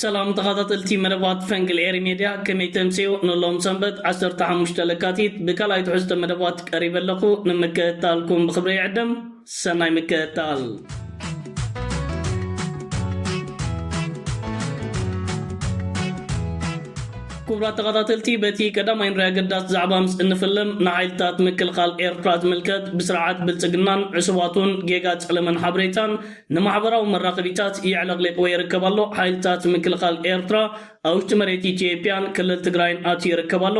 ሰላም ተኻታተልቲ መደባት ፈንቅል ኤሪ ሜድያ ከመይ ተምጽኡ ንሎም ሰንበት ዓሰርተ ሓሙሽተ ለካቲት ብካልኣይ ትሕዝቶ መደባት ቀሪበ ኣለኹ ንምክእታልኩም ብኽብሪ ይዕድም ሰናይ ምክእታል ክቡራት ተኸታተልቲ በቲ ቀዳማይ ንሪያ ገዳስ ዛዕባ ምስ እንፍልም ንሓይልታት ምክልኻል ኤርትራ ዝምልከት ብስርዓት ብልጽግናን ዕሱባቱን ጌጋ ጸለመን ሓበሬታን ንማሕበራዊ መራኸቢታት የዕለቕሊቕዎ ይርከብ ኣሎ። ሓይልታት ምክልኻል ኤርትራ ኣብ ውሽጢ መሬት ኢትዮጵያን ክልል ትግራይን ኣትዩ ይርከብ ኣሎ።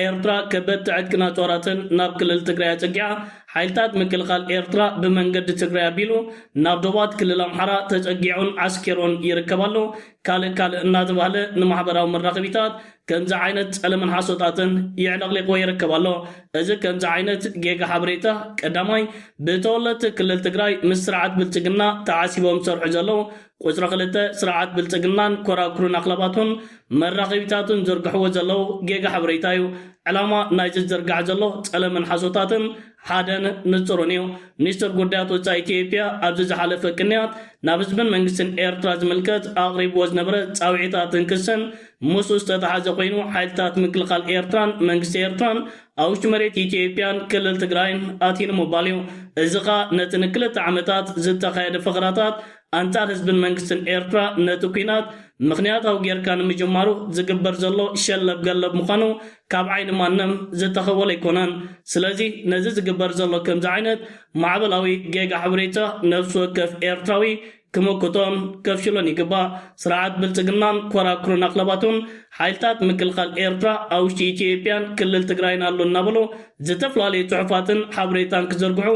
ኤርትራ ከበድቲ ዕጥቅን ኣጽዋራትን ናብ ክልል ትግራይ ኣጸጊዓ። ሓይልታት ምክልኻል ኤርትራ ብመንገዲ ትግራይ ኣቢሉ ናብ ዶባት ክልል ኣምሓራ ተጸጊዑን ዓስኪሩን ይርከብ ኣሎ። ካልእ ካልእ እናተባህለ ንማሕበራዊ መራኸቢታት ከምዚ ዓይነት ጸለመን ሓሶታትን የዕለቕሊቕዎ ይርከብ ኣሎ። እዚ ከምዚ ዓይነት ጌጋ ሓበሬታ ቀዳማይ ብተወለድቲ ክልል ትግራይ ምስ ስርዓት ብልጽግና ተዓሲቦም ዝሰርሑ ዘለዉ፣ ቁጽሪ ክልተ ስርዓት ብልጽግናን ኮራኩሩን ኣኽላባቱን መራኸቢታቱን ዝዝርግሕዎ ዘለዉ ጌጋ ሓበሬታ እዩ። ዕላማ ናይዚ ዝዝርጋሕ ዘሎ ጸለመን ሓሶታትን፣ ሓደን ንጹርን እዩ። ሚኒስትር ጉዳያት ወጻኢ ኢትዮጵያ ኣብዚ ዝሓለፈ ቅንያት ናብ ህዝብን መንግስትን ኤርትራ ዝምልከት ኣቕሪብዎ ዝነበረ ጻውዒታትን ክስን ምስኡ ዝተተሓዘ ኮይኑ ሓይልታት ምክልኻል ኤርትራን መንግስቲ ኤርትራን ኣብ ውሽጢ መሬት ኢትዮጵያን ክልል ትግራይን ኣትዩን ምባል እዩ። እዚ ከኣ ነቲ ንክልተ ዓመታት ዝተኻየደ ፈኸራታት ኣንጻር ህዝብን መንግስትን ኤርትራ ነቲ ኲናት ምኽንያታዊ ጌርካ ንምጅማሩ ዝግበር ዘሎ ሸለብ ገለብ ምዃኑ ካብ ዓይኒ ማንም ዝተኸወለ ኣይኮነን። ስለዚ ነዚ ዝግበር ዘሎ ከምዚ ዓይነት ማዕበላዊ ጌጋ ሓበሬታ ነፍሲ ወከፍ ኤርትራዊ ክምክቶን ከፍሽሎን ይግባእ። ስርዓት ብልጽግናን ኮራኩርን ኣኽለባቱን ሓይልታት ምክልኻል ኤርትራ ኣብ ውሽጢ ኢትዮጵያን ክልል ትግራይን ኣሎ እናበሉ ዝተፍላለዩ ጽሑፋትን ሓበሬታን ክዝርግሑ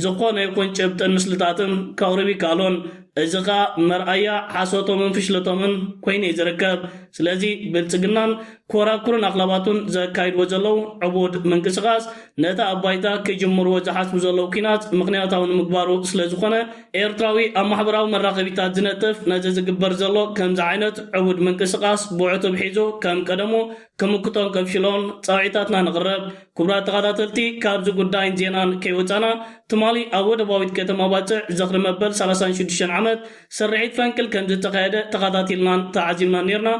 ዝኾነ ይኹን ጭብጥን ምስልታትን ከቕርብ ይከኣሎን። እዚ ከኣ መርኣያ ሓሶቶምን ፍሽለቶምን ኮይኑ እዩ ዝርከብ። ስለዚ ብልጽግናን ኮራኩርን ኣኽላባቱን ዘካይድዎ ዘለዉ ዕቡድ ምንቅስቓስ ነቲ ኣብ ባይታ ክጅምርዎ ዝሓስቡ ዘለዉ ኲናት ምኽንያታዊ ንምግባሩ ስለ ዝኾነ ኤርትራዊ ኣብ ማሕበራዊ መራኸቢታት ዝነጥፍ ነዚ ዝግበር ዘሎ ከምዚ ዓይነት ዕቡድ ምንቅስቓስ ብዕቱብ ሒዙ ከም ቀደሙ ክምክቶን ከምሽሎን ጻውዒታትና ንቕረብ። ኩቡራት ተኻታተልቲ ካብዚ ጉዳይን ዜናን ከይወጻና ትማሊ ኣብ ወደባዊት ከተማ ባጽዕ ዝኽሪ መበል ሰላሳን ሽዱሽተን ዓመት ስርሒት ፈንቅል ከምዝተኻየደ ተኻታቲልናን ተዓዚብናን ኔርና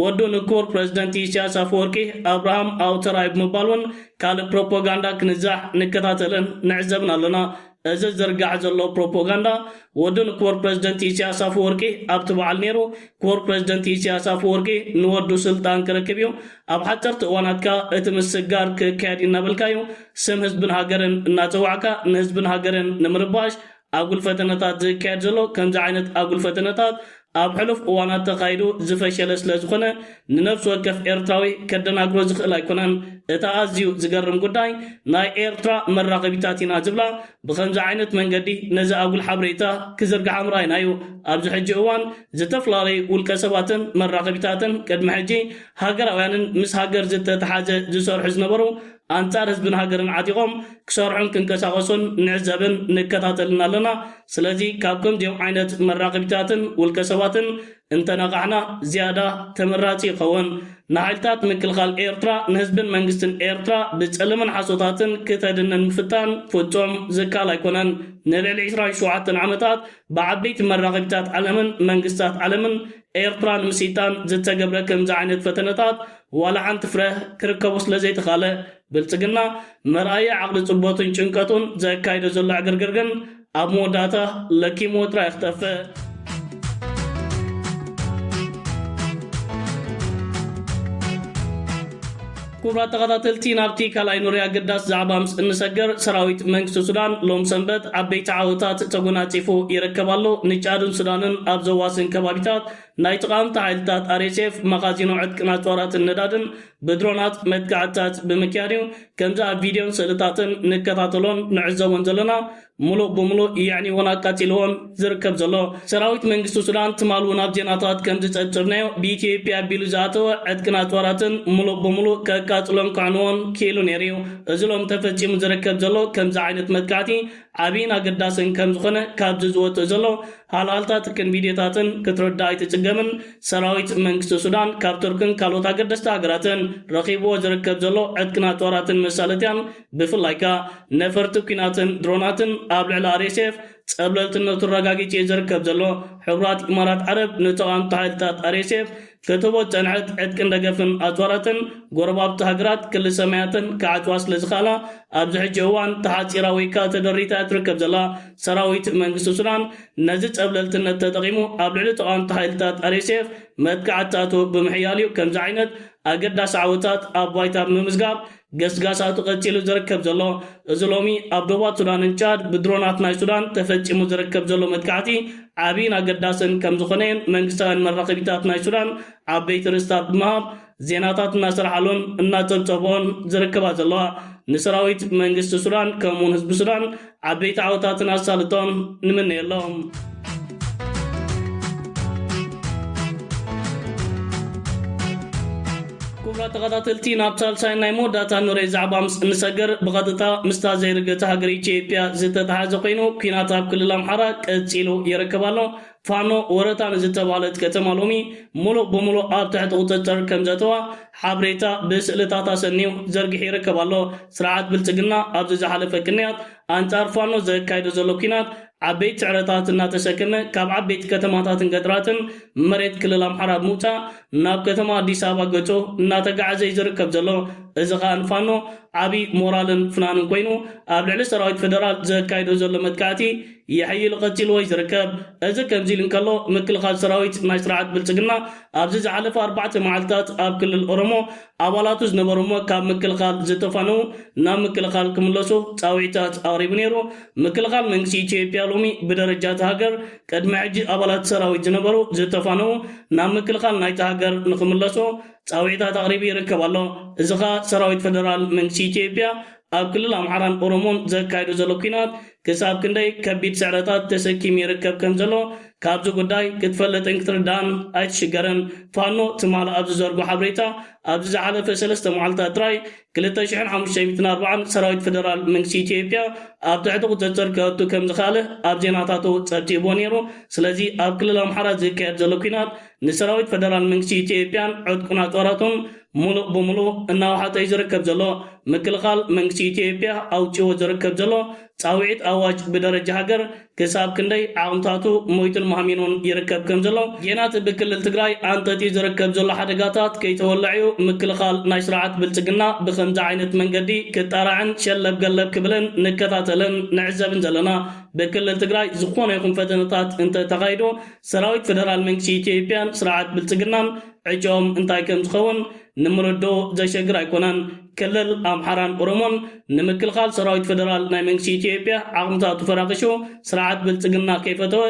ወዱ ንኩቡር ፕረዚደንት ኢሰያስ ኣፈወርቂ ኣብርሃም ኣውተራይ ብምባል ውን ካልእ ፕሮፖጋንዳ ክንዛሕ ንከታተልን ንዕዘብን ኣለና እዚ ዝዝርጋሕ ዘሎ ፕሮፖጋንዳ ወዱ ንክቡር ፕረዚደንት ኢሰያስ ኣፈወርቂ ኣብቲ በዓል ነይሩ፣ ክቡር ፕረዚደንት ኢሰያስ ኣፈወርቂ ንወዱ ስልጣን ክረክብ እዩ፣ ኣብ ሓጸርቲ እዋናት ከኣ እቲ ምስግጋር ክካየድ እዩ እናበልካ እዩ ስም ህዝብን ሃገርን እናጸዋዕካ ንህዝብን ሃገርን ንምርባሽ ኣጉል ፈተነታት ዝካየድ ዘሎ፣ ከምዚ ዓይነት ኣጉል ፈተነታት ኣብ ሕሉፍ እዋናት ተኻይዱ ዝፈሸለ ስለ ዝኾነ ንነብሲ ወከፍ ኤርትራዊ ከደናግሮ ዝኽእል ኣይኮነን። እታ ኣዝዩ ዝገርም ጉዳይ ናይ ኤርትራ መራኸቢታት ኢና ዝብላ ብኸምዚ ዓይነት መንገዲ ነዚ ኣጉል ሓብሬታ ክዝርግሓ ምርኣይና እዩ። ኣብዚ ሕጂ እዋን ዝተፈላለዩ ውልቀ ሰባትን መራኸቢታትን ቅድሚ ሕጂ ሃገራውያንን ምስ ሃገር ዝተተሓዘ ዝሰርሑ ዝነበሩ ኣንጻር ህዝብን ሃገርን ዓጢቖም ክሰርሑን ክንቀሳቐሱን ንዕዘብን ንከታተልን ኣለና። ስለዚ ካብ ከምዚኦም ዓይነት መራኸቢታትን ውልቀ ሰባትን እንተነቓሕና ዝያዳ ተመራጺ ይኸውን። ንሓይልታት ምክልኻል ኤርትራ ንህዝብን መንግስትን ኤርትራ ብጸለመን ሓሶታትን ክተድንን ምፍታን ፍጹም ዝከኣል ኣይኮነን። ንልዕሊ ዕስራን ሸውዓተን ዓመታት ብዓበይቲ መራኸቢታት ዓለምን መንግስታት ዓለምን ኤርትራ ንምስይጣን ዝተገብረ ከምዚ ዓይነት ፈተነታት ዋላ ሓንቲ ፍረ ክርከቡ ስለዘይተኻለ፣ ብልጽግና መርኣያ ዓቕሊ ጽበቱን ጭንቀቱን ዘካይዶ ዘሎ ዕግርግር ግን ኣብ መወዳእታ ለኪምዎ ጥራይ ክጠፍእ። ክቡራት ተኸታተልቲ ናብቲ ካልኣይ ኑሪ ኣገዳሲ ዛዕባ ምስ እንሰገር ሰራዊት መንግስቲ ሱዳን ሎም ሰንበት ዓበይቲ ዓወታት ተጎናጺፉ ይርከብ ኣሎ። ንጫድን ሱዳንን ኣብ ዘዋስን ከባቢታት ናይ ተቓወምቲ ሓይልታት RSF መኻዚኖ ዕጥቅን ኣጽዋራትን ነዳድን ብድሮናት መጥቃዕትታት ብምክያድ እዩ። ከምዚ ኣብ ቪድዮን ስእልታትን ንከታተሎን ንዕዘቦን ዘለና ሙሉእ ብሙሉእ የዕንዩ ውን ኣቃጺልዎን ዝርከብ ዘሎ ሰራዊት መንግስቲ ሱዳን ትማል ውን ኣብ ዜናታት ከምዝጸብጸብናዮ ብኢትዮጵያ ኣቢሉ ዝኣተወ ዕጥቅን ኣጽዋራትን ሙሉእ ብሙሉእ ከቃጽሎን ከዕንዎን ኪኢሉ ነይሩ እዩ እዚ ሎም ተፈጺሙ ዝርከብ ዘሎ ከምዚ ዓይነት መጥቃዕቲ ዓብይን ኣገዳስን ከምዝኾነ ካብዚ ዝወጽእ ዘሎ ሃልሃልታትክን ቪድዮታትን ክትርዳእ ኣይትጽገምን ሰራዊት መንግስቲ ሱዳን ካብ ቱርክን ካልኦት ኣገደስቲ ሃገራትን ረኺብዎ ዝርከብ ዘሎ ዕጥቅን ኣጽዋራትን መሳለጥያን ብፍላይ ከኣ ነፈርቲ ኲናትን ድሮናትን ኣብ ልዕሊ ኣርኤስኤፍ ጸብለልትነቱ ኣረጋጊጹ'ዩ ዝርከብ ዘሎ። ሕቡራት ኢማራት ዓረብ ንተቓወምቲ ሓይልታት ኣርኤስኤፍ ክትህቦ ዝጸንሐት ዕጥቅን ደገፍን ኣጽዋራተን ጎረባብቲ ሃገራት ክሊ ሰማያተን ክዓጽዋ ስለ ዝኸኣላ ኣብዚ ሕጂ እዋን ተሓጺራ ወይ ከኣ ተደሪታ'ያ ትርከብ ዘላ። ሰራዊት መንግስቲ ሱዳን ነዚ ጸብለልትነት ተጠቒሙ ኣብ ልዕሊ ተቓወምቲ ሓይልታት ኣርኤስኤፍ መጥቃዕትታቱ ብምሕያል'ዩ ከምዚ ዓይነት ኣገዳሲ ዓወታት ኣብ ባይታ ብምምዝጋብ ገስጋሳቱ ቀጺሉ ዝርከብ ዘሎ እዚ ሎሚ ኣብ ዶባት ሱዳንን ቻድ ብድሮናት ናይ ሱዳን ተፈጺሙ ዝርከብ ዘሎ መጥቃዕቲ ዓብይን ኣገዳስን ከምዝኾነ'የን መንግስታውያን መራኸቢታት ናይ ሱዳን ዓበይቲ ርእስታት ብምሃብ ዜናታት እናሰርሓሉን እናጸብጸብኦን ዝርከባ ዘለዋ። ንሰራዊት መንግስቲ ሱዳን ከምኡ'ውን ህዝቢ ሱዳን ዓበይቲ ዓወታትን ኣሳልጦን ንምነየሎም። ክቡራት ተኸታተልቲ ናብ ሳልሳይ ናይ መወዳእታ ንሬ ዛዕባ ምስ እንሰግር ብቐጥታ ምስታ ዘይርገቲ ሃገር ኢትዮጵያ ዝተተሓዘ ኮይኑ ኩናት ኣብ ክልል ኣምሓራ ቀፂሉ ይርከብ ኣሎ ፋኖ ወረታ ንዝተባህለት ከተማ ሎሚ ሙሉእ ብሙሉእ ኣብ ትሕቲ ቁፅፅር ከምዘእተዋ ሓብሬታ ብስእልታት ኣሰንዩ ዘርጊሑ ይርከብ ኣሎ። ስርዓት ብልፅግና ኣብዚ ዝሓለፈ ቅንያት ኣንፃር ፋኖ ዘካይዶ ዘሎ ኲናት ዓበይቲ ስዕረታት እናተሰከመ ካብ ዓበይቲ ከተማታትን ገጠራትን መሬት ክልል ኣምሓራ ብምውፃእ ናብ ከተማ ኣዲስ ኣበባ ገፁ እናተገዓዘ እዩ ዝርከብ ዘሎ። እዚ ከዓ ንፋኖ ዓብዪ ሞራልን ፍናንን ኮይኑ ኣብ ልዕሊ ሰራዊት ፌደራል ዘካይዶ ዘሎ መጥቃዕቲ የሐይል ቐጺሉ ወይ ዝርከብ። እዚ ከምዚ ኢሉ እንከሎ ምክልኻል ሰራዊት ናይ ስርዓት ብልጽግና ኣብዚ ዝሓለፈ ኣርባዕተ መዓልትታት ኣብ ክልል ኦሮሞ ኣባላቱ ዝነበሩ'ሞ ካብ ምክልኻል ዝተፋነዉ ናብ ምክልኻል ክምለሱ ጻውዒታት ኣቕሪቡ ነይሩ። ምክልኻል መንግስቲ ኢትዮጵያ ሎሚ ብደረጃ'ታ ሃገር ቅድሚ ሕጂ ኣባላት ሰራዊት ዝነበሩ ዝተፋነዉ ናብ ምክልኻል ናይታ ሃገር ንኽምለሱ ጻውዒታት ኣቕሪቡ ይርከብ ኣሎ። እዚ ከኣ ሰራዊት ፈደራል መንግስቲ ኢትዮጵያ ኣብ ክልል ኣምሓራን ኦሮሞን ዘካይዶ ዘሎ ኲናት ክሳብ ክንደይ ከቢድ ስዕረታት ተሰኪሙ ይርከብ ከም ዘሎ ካብዚ ጉዳይ ክትፈልጥን ክትርዳእን ኣይትሽገርን። ፋኖ ትማል ኣብ ዝዘርጎ ሓብሬታ ኣብዚ ዝሓለፈ ሰለስተ መዓልታት ጥራይ ክልተ ሽሕን ሓሙሽተ ሚእትን ኣርባዓን ሰራዊት ፈደራል መንግስቲ ኢትዮጵያ ኣብ ትሕቲ ቁጽጽር ከእቱ ከም ዝኸኣለ ኣብ ዜናታቱ ጸብጺብዎ ነይሩ። ስለዚ ኣብ ክልል ኣምሓራ ዝካየድ ዘሎ ኲናት ንሰራዊት ፈደራል መንግስቲ ኢትዮጵያን ዕጥቁን ኣጽዋራቱን ሙሉእ ብሙሉእ እናውሓጠ'ዩ ዝርከብ ዘሎ። ምክልኻል መንግስቲ ኢትዮጵያ ኣውጺእዎ ዝርከብ ዘሎ ጻውዒት ኣዋጅ ብደረጃ ሃገር ክሳብ ክንደይ ዓቕምታቱ ሞይቱን ማህሚኑን ይርከብ ከም ዘሎ፣ ጌና'ቲ ብክልል ትግራይ ኣንጠጥዩ ዝርከብ ዘሎ ሓደጋታት ከይተወልዐ'ዩ ምክልኻል ናይ ስርዓት ብልጽግና ብኸምዚ ዓይነት መንገዲ ክጣራዕን ሸለብ ገለብ ክብልን ንከታተልን ንዕዘብን ዘለና። ብክልል ትግራይ ዝኾነ ይኹን ፈተነታት እንተተኻይዱ ሰራዊት ፈደራል መንግስቲ ኢትዮጵያን ስርዓት ብልጽግናን ዕጭኦም እንታይ ከም ዝኸውን ንምርድኡ ዘሸግር ኣይኮነን። ክልል ኣምሓራን ኦሮሞን ንምክልኻል ሰራዊት ፈደራል ናይ መንግስቲ ኢትዮጵያ ዓቕምታቱ ፈራኺሹ ስርዓት ብልጽግና ከይፈተወ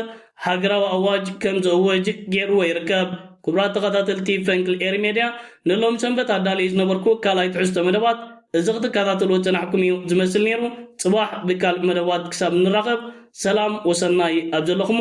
ሃገራዊ ኣዋጅ ከም ዝእውጅ ጌርዎ ይርከብ። ክቡራት ተኸታተልቲ ፈንቅል ኤሪ ሜድያ ንሎሚ ሰንበት ኣዳልየዮ ዝነበርኩ ካልኣይ ትሕዝቶ መደባት እዚ ክትከታተልዎ ዝጸናሕኩም እዩ ዝመስል ኔሩ። ጽባሕ ብካልእ መደባት ክሳብ እንራኸብ ሰላም ወሰናይ ኣብ ዘለኹሞ